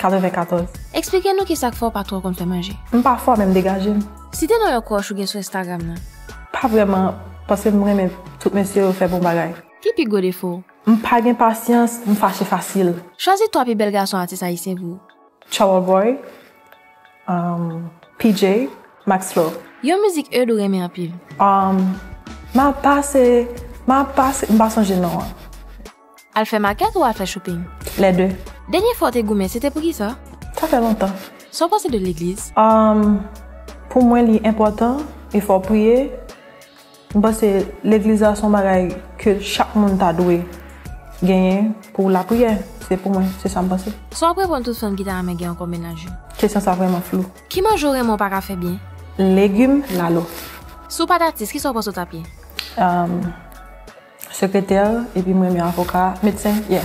94. Eksplike nou kisak fè w pa twò konn fè manje. M pa fò men m degaje m. Site non yon crush ou gen sou Instagram nan. Pa vrèman, paske m renmen tout mesye yo fè bon bagay. Ki pi gwo defo w? M pa gen pasyans, m fache fasil. Chwazi 3 pi bèl gason atis ayisyen pou ou. Troubleboy, P-J, Maxflo. Yon mizik Eude ou renmen anpil. Map pase, map pase, m pa sonje non an. Al fè makèt ou al fè shopping? Les deux. Dènye fwa w te goumen se te pou kisa? Sa fè lontan. Sa w panse de legliz? Umm pou mwen li enpòtan e fò w priye. M panse legliz la son bagay ke chak moun ta dwe genyen pou lapriyè. Se pou mwen, se sa m panse. Sa w ap reponn tout fanm ki ta renmen gen ankò menaj yo? Kesyon sa vrèman flou. Ki manje w renmen w pa ka fè byen? Legume, lalo. Si w pat atis kisa w panse w t ap ye? Umm. Sekretè, epi m renmen avoka, medsen, yeah,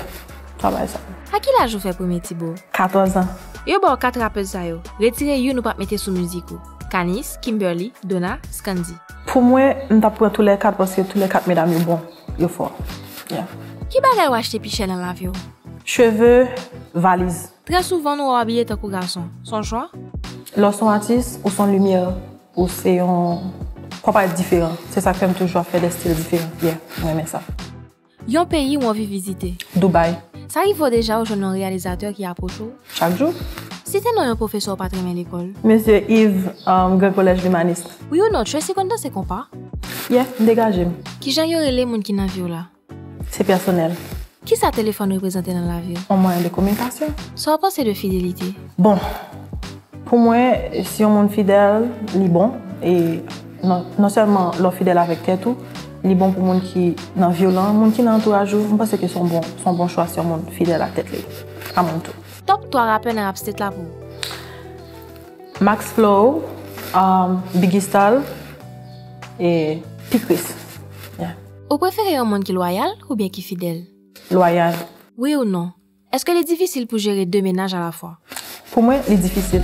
travay sa. A ki laj ou fè premye ti bo? 14 an. Yo baw 4 rappeuse sa yo, retire youn ou pap mete sou mizik ou, Kanis, Kimberly, Dona, Scandy. Pou mwen, m tap pran tou lè 4 paske tou lè 4 medam yo bon, yo fò, yeah. Ki bagay ou achte pi chè nan lavi w? Cheve, valiz. Trè souvan nou wè w abiye tankou gason, son chwa? Lè w son atis, ou son limyè. Ou se yon Papa diferan. Se sak fèm toujou ap fè des stil diferan. Yeah, m renmen sa. Yon peyi ou anvi vizite? Dubai. Sa rive w deja ou jwenn yon reyalizatè ki apwoche w? Chak jou. Site non yon pwofesè ou pat renmen lekòl? Mesye Yves, Grand Collège L'Humaniste. Wi ou non, Tracy konn danse konpa? Yeah, m degaje m. Kijan yo rele moun ki nan vi w la? Se pèsonèl. Kisa telefòn reprezante nan lavi w? Yon mwayen de kominikasyon. Sa w panse de fidelite? Bon, pou mwen, si yon moun fidèl, li bon. E non sèlman lè w fidèl avèk tèt ou, li bon pou moun ki nan vi w lan, moun ki nan antouraj ou. M panse ke se yon bon chwa si yon moun fidèl ak tèt li. A moun tou. Top 3 rapè nan rap state la pou ou? Max Flow, Biggie Style e P-Chris. Ou prefere yon moun ki lwayal oubyen ki fidèl? Lwayal. Wi ou non. Èske li difisil pou jere de menaj alafwa? Pou mwen, li difisil.